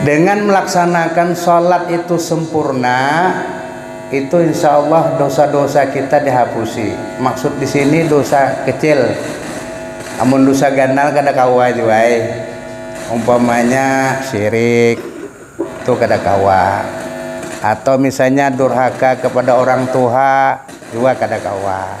Dengan melaksanakan sholat itu sempurna, itu insya Allah dosa-dosa kita dihapusi. Maksud di sini dosa kecil. Amun dosa ganal kada kawa jua. Eh. Umpamanya syirik, itu kada kawa. Atau misalnya durhaka kepada orang tua, juga kada kawa.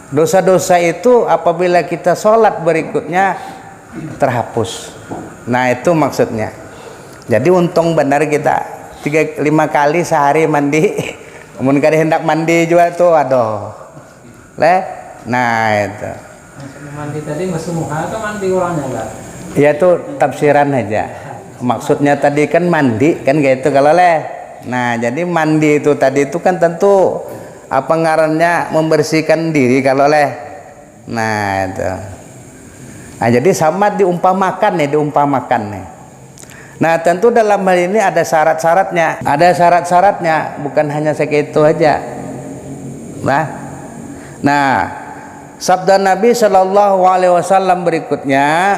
Dosa-dosa itu apabila kita sholat berikutnya terhapus. Nah itu maksudnya. Jadi untung benar kita tiga lima kali sehari mandi. Mun kada hendak mandi jua tuh, aduh. Le? Nah itu. Mandi tadi masuk muha atau mandi orangnya lah? Ya itu tafsiran aja. Maksudnya tadi kan mandi kan kayak itu kalau leh. Nah jadi mandi itu tadi itu kan tentu Apa ngarannya membersihkan diri kalau leh. Nah itu. Nah jadi sama diumpamakan nih, diumpamakan nih. Nah tentu dalam hal ini ada syarat-syaratnya. Ada syarat-syaratnya, bukan hanya segitu aja. Nah, nah sabda Nabi Shallallahu Alaihi Wasallam berikutnya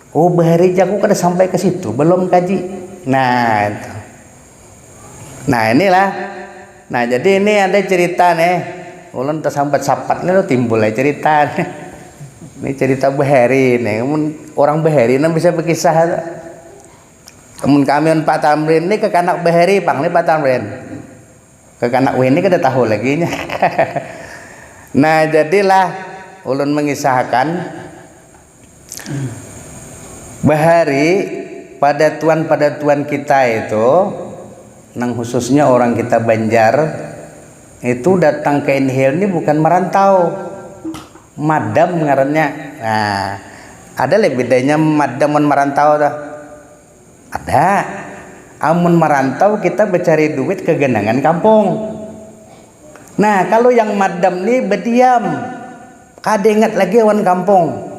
Oh bahari aku kada sampai ke situ belum kaji nah itu nah inilah nah jadi ini ada cerita nih ulun tersambat sapat nih timbul ya cerita nih ini cerita bahari nih orang bahari nih bisa berkisah itu Kemun kami on Pak Tamrin ini kekanak bahari pang nih Pak Tamrin kekanak wini kada tahu lagi nya nah jadilah ulun mengisahkan Bahari padatuan-padatuan kita itu, nang khususnya orang kita Banjar, itu datang ke Inhale ni bukan merantau. Madam ngarannya. Nah, ada leh bedanya madam wan merantau tuh. Ada, amun marantau kita bacari duit kaganangan kampung. Nah, kalu yang madam ni badiam, kada ingat lagi awan kampung.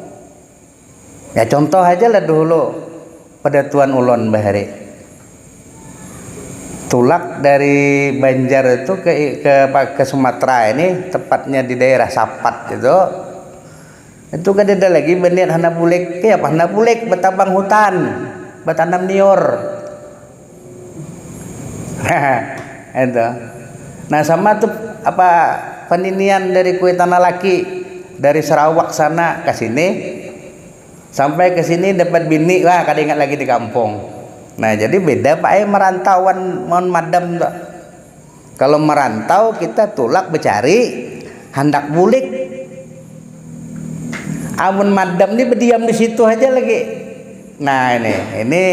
Ya contoh haja lah dahulu padatuan ulun bahari. Tulak dari Banjar itu ke ke Sumatera ini, tepatnya di daerah Sapat itu. Itu kadada lagi baniat handak bulik, kayapa handak bulik batabang hutan, batanam niur. itu. Nah sama tu apa paninian dari kuitan lalaki dari Sarawak sana ka sini sampai ka sini dapat bini wah kada ingat lagi di kampung. Nah jadi beda pa ai marantau wan mun madam tu. Kalau merantau kita tulak becari, handak bulik. Amun madam ni bediam di situ haja lagi. Nah ini, ini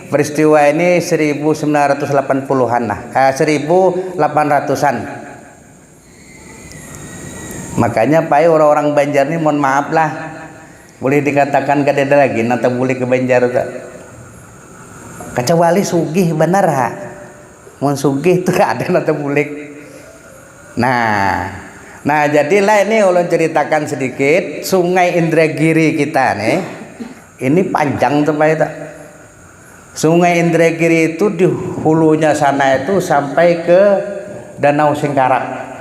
peristiwa ini 1980-an lah, eh, 1800-an. Makanya pai orang-orang Banjar ni mohon maaf lah, boleh dikatakan kadada lagi nang tabulik ke Banjar tu. Kacawali sugih banar ha. Mun sugih tu kada nang tabulik. Nah, nah jadi lah ini ulun ceritakan sedikit sungai Indragiri kita nih. Ini panjang tuh Pak itu. Sungai Indragiri itu di hulunya sana itu sampai ke Danau Singkarak.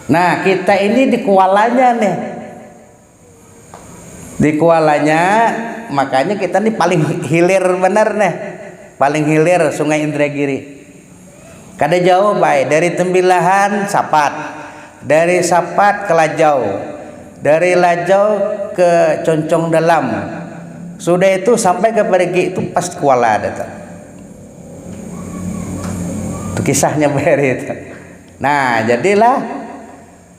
Nah, kita ini di kualanya nih. di kualanya makanya kita nih paling hilir bener nih paling hilir sungai Indragiri kada jauh bay dari Tembilahan Sapat dari Sapat ke Lajau dari Lajau ke Concong Dalam sudah itu sampai ke Parigi itu pas kuala dah tu tu kisahnya bay hari itu nah jadilah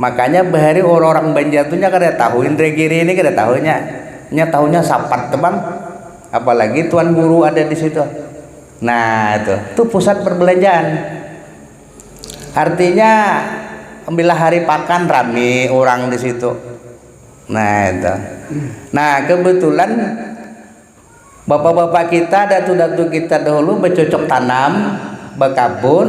Makanya bahari orang-orang Banjar tuh nya kada tahu indra giri ini kada tahu nya. Nya tahunya sapat tuh bang. Apalagi tuan guru ada di situ. Nah itu, itu pusat perbelanjaan. Artinya bila hari pakan rami orang di situ. Nah itu. Nah kebetulan bapak-bapak kita, datu-datu kita dahulu bercocok tanam, berkabun,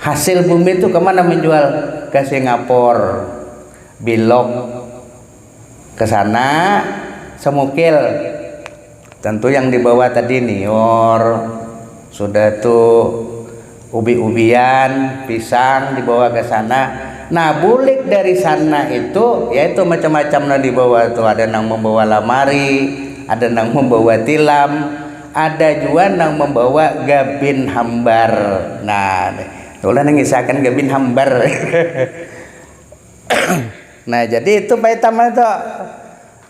Hasil bumi tu kemana menjual? Ke Singapore, bilok ke sana, semukil, tentu yang dibawa tadi nior, sudah tu ubi-ubian, pisang dibawa ke sana, nah bulik dari sana itu ya itu macam-macam nang dibawa tu, ada nang membawa lamari, ada nang membawa tilam. Ada jua nang mambawa gabin hambar. Nah, nih. Itu lah nang ngisahkan gabin hambar. nah, jadi itu paitama itu.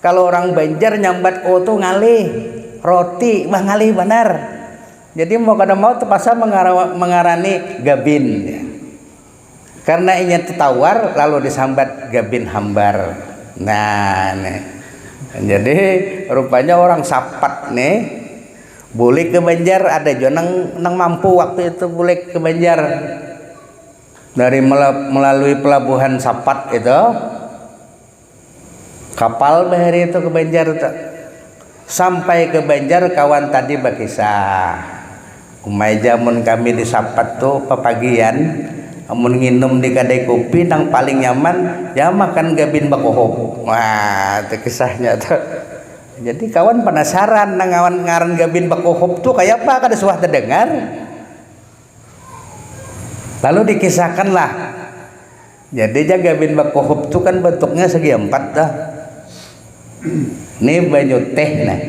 Kalau orang Banjar nyambat o tu ngalih. Roti. Wah, ngalih banar. Jadi mau kada mau terpaksa mengarani gabin. Karna inya tu tawar lalu disambat Gabin Hambar. Nah ni. Jadi rupanya orang Sapat ni bulik ke Banjar ada jua nang nang mampu waktu itu bulik ke Banjar dari melalui pelabuhan Sapat itu. Kapal bahari tu ke Banjar tu. Sampai ke Banjar kawan tadi bakisah. Umai ja mun kami di Sapat tu papagian amun nginum di kadai kupi nang paling nyaman ya makan gabin bakuhuk. Wah tu kisahnya tu. Jadi kawan panasaran nang ngawan ngaran gabin bakuhuk tu kaya apa kada suah tadangar. Lalu dikisahkanlah. Jadi jaga bin bakuhup tu kan bentuknya segi empat tuh. Nih banyu teh nah.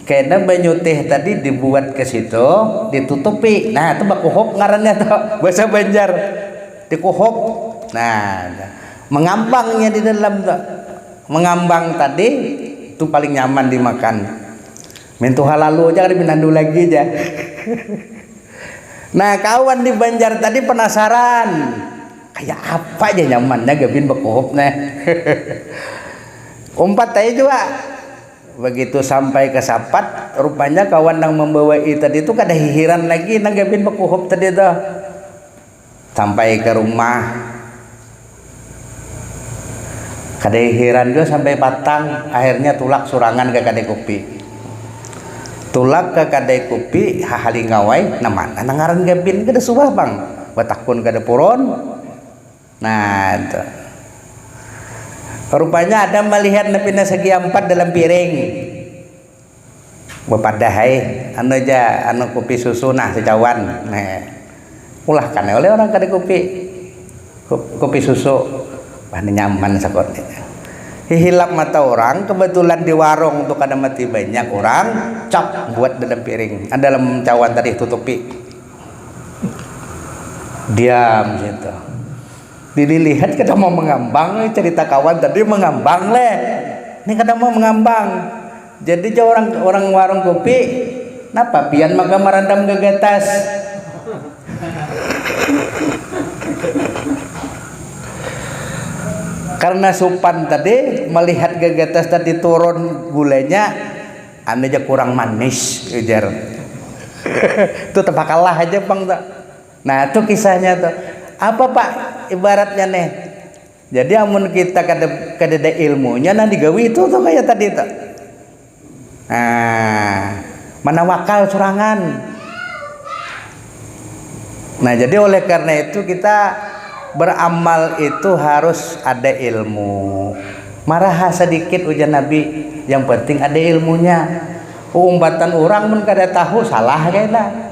Kena banyu teh tadi dibuat ke situ, ditutupi. Nah, itu bakuhup ngarannya tuh. Bahasa Banjar. Dikuhup. Nah, mengambangnya di dalam tuh. Mengambang tadi itu paling nyaman dimakan. Mintuha lalu aja kada pinandu lagi ja. nah kawan di Banjar tadi penasaran kayak apa aja nyamannya Gavin bekuhup nah. Umpat aja juga. Begitu sampai ke Sapat, rupanya kawan yang membawai tadi itu kada hihiran lagi nang Gavin bekuhup tadi itu. Sampai ka rumah, kada hiran jua sampai patang, akhirnya tulak surangan ka kadai kupi. Tulak ka kadai kupi, hahalingau ai, nang mana nang ngaran Gabin, kada suah pang batakun kada puron. Nah, itu. Rupanya ada malihat nang pina segi ampat dalam piring. Bapadah ai, anu ja, anu kupi susu nah secawan. Ulah kan ai oleh orang kada kupi, kupi susu. Wah ni nyaman sakut ni. Hihilap mata urang, kebetulan di warung tu kada mati banyak urang, cap buat dalam piring, dalam cawan tadi tutupi. Diam situ. Dililihat kada mau mangambang nih carita kawan tadi mangambang leh ini kada mau mangambang jadi jar orang orang warung kopi napa pian maka marandam gagatas karna supan tadi malihat gagatas tadi turun gulanya anu ja kurang manis ujar itu tebakalah aja pang tu Nah tu kisahnya tu. Apa pak ibaratnya nih. Jadi amun kita kada kadada ilmunya nah digawi itu tu kaya tadi tu. Nah, manawakal surangan. Nah, jadi oleh karena itu kita beramal itu harus ada ilmu. Maraha sedikit ujar Nabi, yang penting ada ilmunya. Umbatan orang pun kada tahu salah kena.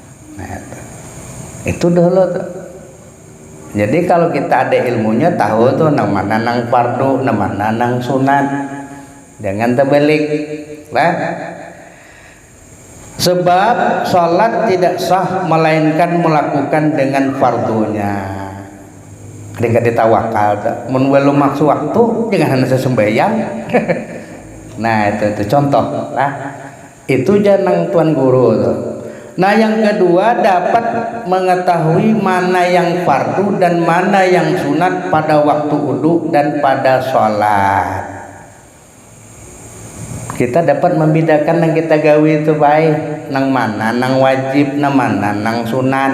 Nah, itu. itu dulu tuh. Jadi kalau kita ada ilmunya tahu tuh nang mana nang fardu, nang mana nang sunat. Jangan terbalik. Nah, sebab sholat tidak sah melainkan melakukan dengan fardunya ketika ditawakal mun belum masuk waktu jangan hanya sesembayang nah itu itu contoh lah Itu ja nang tuan guru tu. Nah yang kedua dapat mengetahui mana yang fardu dan mana yang sunat pada waktu wudu dan pada sholat. Kita dapat membedakan nang kita gawi tu bae nang mana nang wajib nang mana nang sunat.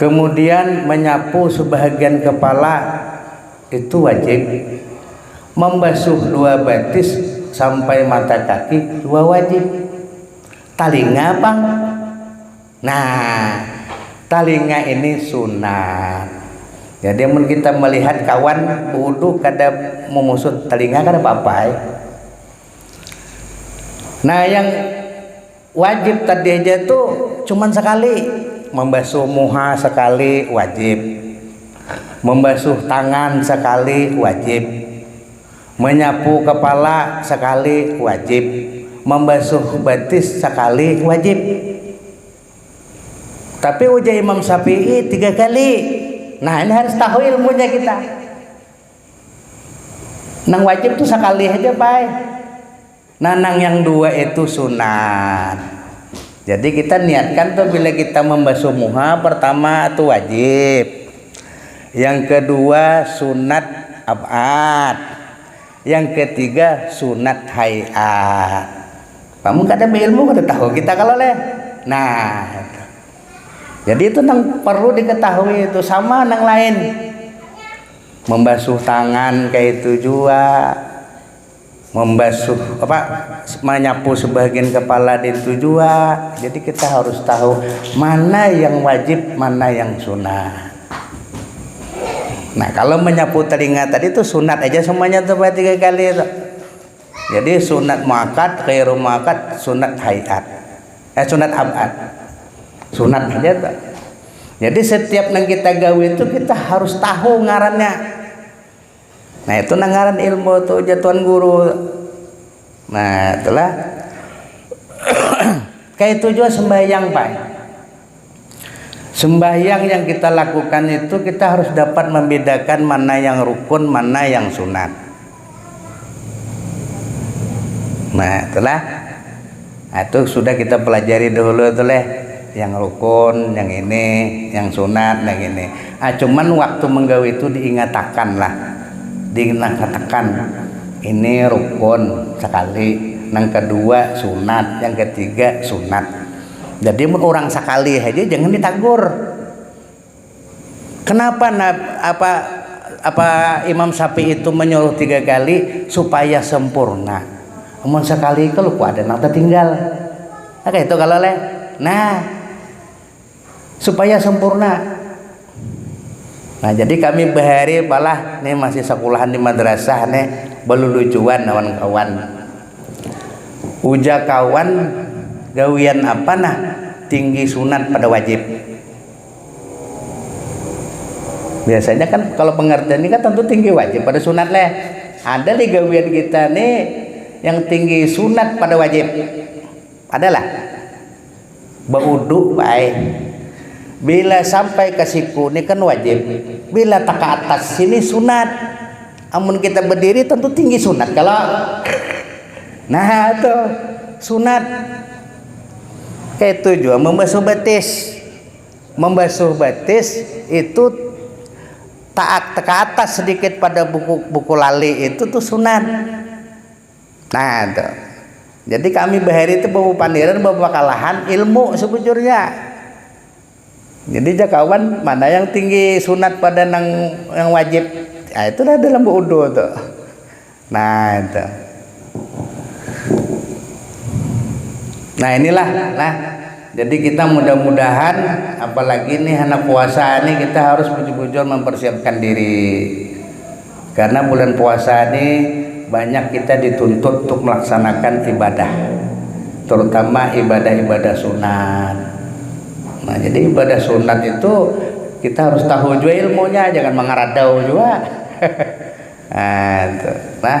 Kemudian menyapu sebahagian kepala itu wajib. Membasuh dua batis sampai mata kaki jua wajib. Talinga pang. Nah, talinga ini sunat. Jadi mun kita melihat kawan bewudu kada memusut talinga kada apa-apa ai. Nah, yang Wajib tadi haja tu cuman sakali, mambasuh muha sakali wajib, mambasuh tangan sakali wajib, manyapu kapala sakali wajib, mambasuh batis sakali wajib. Tapi ujar Imam Syafi'i tiga kali. Nah ini harus tahu ilmunya kita. Nang wajib tu sakali haja pai. Nanang yang dua itu sunat. Jadi kita niatkan tuh bila kita membasuh muha pertama itu wajib. Yang kedua sunat ab'ad. Yang ketiga sunat hay'at. Kamu kada berilmu kada tahu kita kalau leh. Nah, itu. Jadi itu nang perlu diketahui itu sama nang lain. Membasuh tangan kayak itu juga membasuh apa menyapu sebagian kepala itu juga jadi kita harus tahu mana yang wajib mana yang sunnah nah kalau menyapu telinga tadi itu sunat aja semuanya tuh buat tiga kali itu jadi sunat muakat kairu muakat sunat hayat eh sunat abad sunat aja tuh jadi setiap yang kita gawe itu kita harus tahu ngarannya Nah itu nang ngaran ilmu tu ujar tuan guru. Nah itulah. Kayak itu juga sembahyang pak. Sembahyang yang kita lakukan itu kita harus dapat membedakan mana yang rukun, mana yang sunat. Nah itulah. Nah itu sudah kita pelajari dahulu itu leh yang rukun yang ini yang sunat yang ini ah cuman waktu menggawi itu diingatakan lah diingatakan ini rukun sekali nang kedua sunat yang ketiga sunat jadi mun urang sekali haja jangan ditagur. Kenapa apa apa Imam Syafi'i itu menyuruh tiga kali supaya sempurna. Amun sekali itu lupa ada nang tertinggal. Nah, itu kalau leh. Nah, supaya sempurna. Nah, jadi kami bahari palah nih masih sekolahan di madrasah nih belulucuan lawan kawan. Uja kawan gawian apa nah tinggi sunat pada wajib. biasanya kan kalau pengertian ini kan tentu tinggi wajib pada sunat leh ada li gawian kita ni yang tinggi sunat pada wajib ada lah beuduk baik bila sampai ke siku ni kan wajib bila tak ke atas sini sunat amun kita berdiri tentu tinggi sunat kalau nah itu sunat Kaitu jua mambasuh batis. Mambasuh batis itu taat ke atas sedikit pada buku-buku lali itu tu sunat. Nah tu. Jadi kami bahari tu bapapandiran bapakalahan ilmu sebujurnya. Jadi jakawan mana yang tinggi sunat pada nang yang wajib. Nah, itu dah dalam beudhu tu. Nah, itu. Nah, inilah nah. Jadi kita mudah-mudahan apalagi nih anak puasa nih kita harus bujur-bujur mempersiapkan diri. Karena bulan puasa ni banyak kita dituntut untuk melaksanakan ibadah, terutama ibadah-ibadah sunat. Nah, jadi ibadah sunat itu kita harus tahu jua ilmunya, jangan mangaradau jua. Nah, itu. Nah,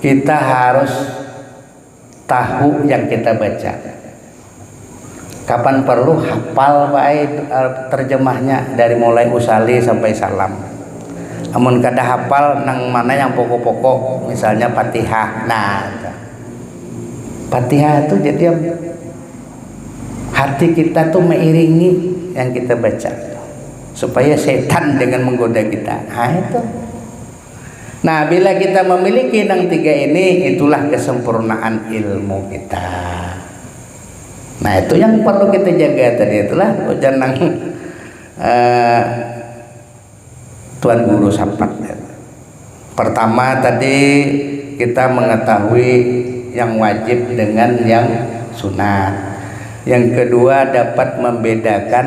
Kita harus tahu yang kita baca. Kapan perlu hafal bae terjemahnya dari mulai usali sampai salam. Amun kada hafal nang mana yang pokok-pokok misalnya fatihah nah itu. Fatihah tu jadi hati kita tu mairingi yang kita baca tu supaya setan jangan menggoda kita ha itu. Nah, bila kita mamiliki nang tiga ini, itulah kesempurnaan ilmu kita. Nah, itu yang perlu kita jaga tadi itulah ujar nang eh, Tuan Guru Sampat. Pertama tadi kita mengetahui yang wajib dengan yang sunat. Yang kedua dapat membedakan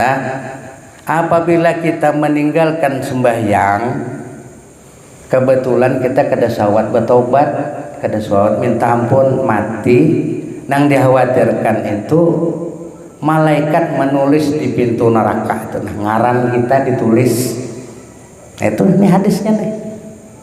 Nah, apabila kita meninggalkan sembahyang, kebetulan kita kada sawat betobat, kada sawat minta ampun, mati, nang dikhawatirkan itu malaikat menulis di pintu neraka itu nah ngaran kita ditulis. Nah, itu nih hadisnya nih.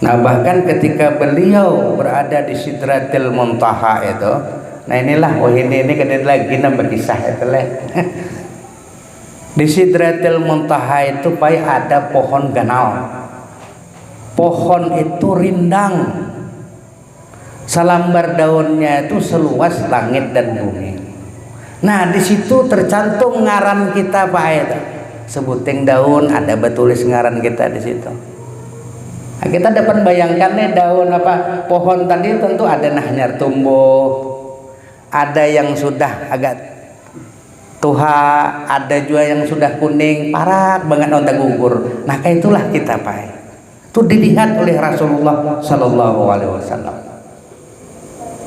Nah bahkan ketika beliau berada di sidratil muntaha itu, nah inilah wahini ini kada lagi nang berkisah itu leh. di sidratil muntaha itu pai ada pohon ganal. Pohon itu rindang. Salambar daunnya itu seluas langit dan bumi. Nah di situ tercantum ngaran kita pa ai tu. Sebuting daun ada batulis ngaran kita di situ. Nah kita dapat bayangkan nih daun apa pohon tadi tentu ada nah hanyar tumbuh, ada yang sudah agak tuha, ada jua yang sudah kuning, parak bangat lawan tagugur. Nah kaya itulah kita pa ai. Tu dilihat oleh Rasulullah Shallallahu Alaihi Wasallam.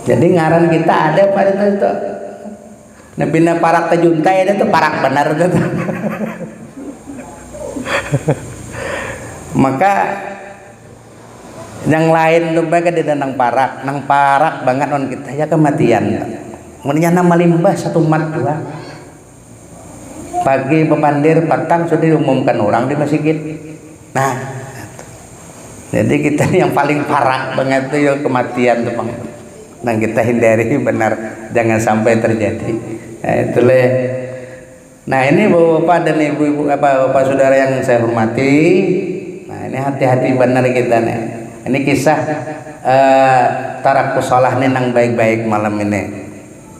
Jadi ngaran kita ada apa itu itu. Nah bina parak tajuntai ada tuh parak benar itu. Maka yang lain tuh baik ada nang parak, nang parak banget non kita ya kematian. Mendingan nama limbah satu mat dua. Pagi bapandir, patang sudah diumumkan urang di masigit. Nah, jadi kita ni yang paling parak bangat tu ya kematian tu pang. Nang kita hindari banar, jangan sampai terjadi. Nah, itu leh. Nah, ini bapak-bapak dan ibu-ibu apa bapak saudara yang saya hormati. Nah, ini hati-hati banar kita nih. Ini kisah eh, tarakus shalah nih nang baik-baik malam ini.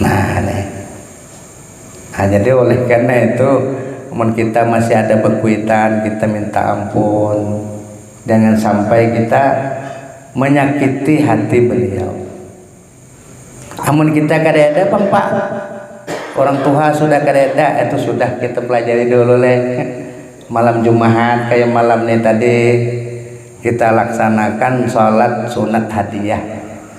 Nah, nih. Nah, jadi oleh karena itu, mun kita masih ada bekuitan, kita minta ampun. Jangan sampai kita menyakiti hati beliau. Amun kita kada ada pang pak, orang tuha sudah kada ada, itu sudah kita pelajari dulu leh. Malam jumahat kaya malam ni tadi, kita laksanakan solat sunat hadiah.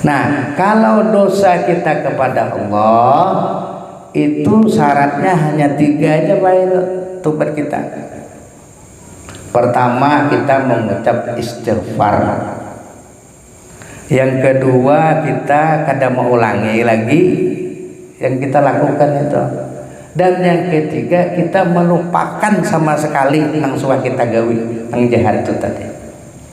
Nah, kalau dosa kita kepada Allah itu syaratnya hanya tiga aja Pak itu tobat kita. Pertama kita mengucap istighfar. Yang kedua kita kada mengulangi lagi yang kita lakukan itu. Dan yang ketiga kita melupakan sama sekali nang suah kita gawi nang jahat itu tadi.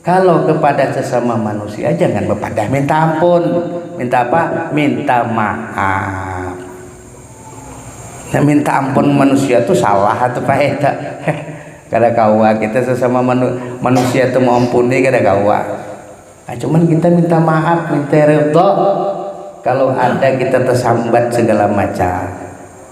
Kalo kepada sesama manusia jangan bepadah minta ampun. Minta apa? Minta maaf. Nah, minta ampun manusia tuh salah atau pak eta? kada kawa kita sesama manu, manusia tuh mau ampuni kada kawa. Nah, cuman kita minta maaf, minta ridho kalau ada kita tersambat segala macam.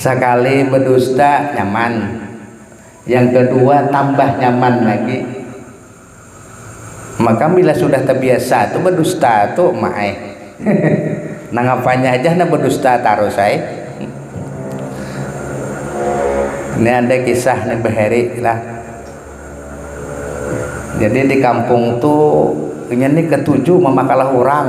Sakali bedusta nyaman, yang kedua tambah nyaman lagi. Maka bila sudah tebiasa tu bedusta tu mak ai. Nang apanya haja handak bedusta tarus ai. Ini ada kisah nih Bahari lah. Jadi di kampung tu inya nih ketuju mamakalah urang.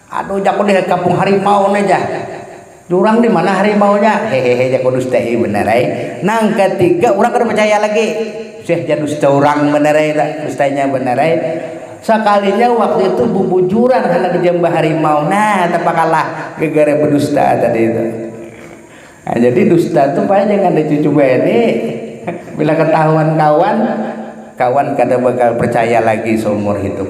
Aduh jaku di kampung harimau ne ja. Durang di mana harimaunya? Hehehe jaku dusta i benar ai. Nang katiga urang kada percaya lagi. Seh ja dusta urang benar ai tu, dustanya benar ai. Sakalinya waktu itu bubujuran handak jamba harimau, nah tapakalah gegara bedusta tadi tu. Nah jadi dusta tu payah jangan di cucu bini. Bila ketahuan kawan, kawan kada bakal percaya lagi seumur hidup.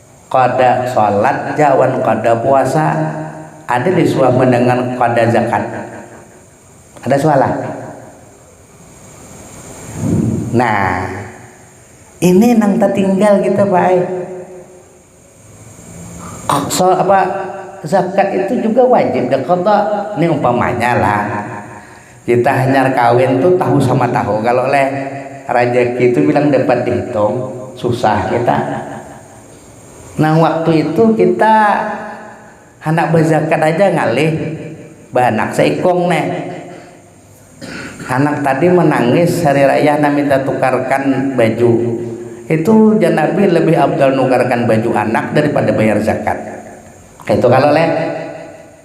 Kada shalat ja wan kada puasa, ada lih suah mendengar kada zakat. Ada suah lah. Nah, ini nang tatinggal kita Pak ai. Sha apa zakat itu juga wajib daqada. Ni umpamanya lah. Kita hanyar kawin tu tahu sama tahu kalo leh, rajaki tu bilang dapat dihitung, susah kita. Nang waktu itu kita handak bazakat haja ngalih bahanak saikung neh. Hanak tadi manangis hari raya handak minta tukarkan baju. Itu jar Nabi labih afdal nukarkan baju anak daripada bayar zakat. Kaitu kalo leh.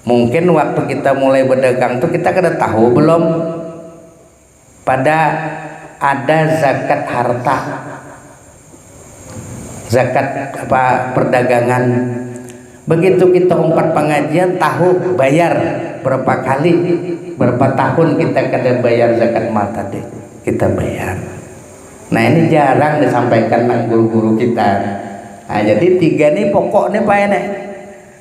Mungkin waktu kita mulai bedagang tu kita kada tahu belum pada ada zakat harta, zakat apa perdagangan. Begitu kita umpat pengajian tahu bayar berapa kali, berapa tahun kita kada bayar zakat mal tadi, kita bayar. Nah ini jarang disampaikan nang guru-guru kita. Nah jadi tiga ni pokok ni payah nih.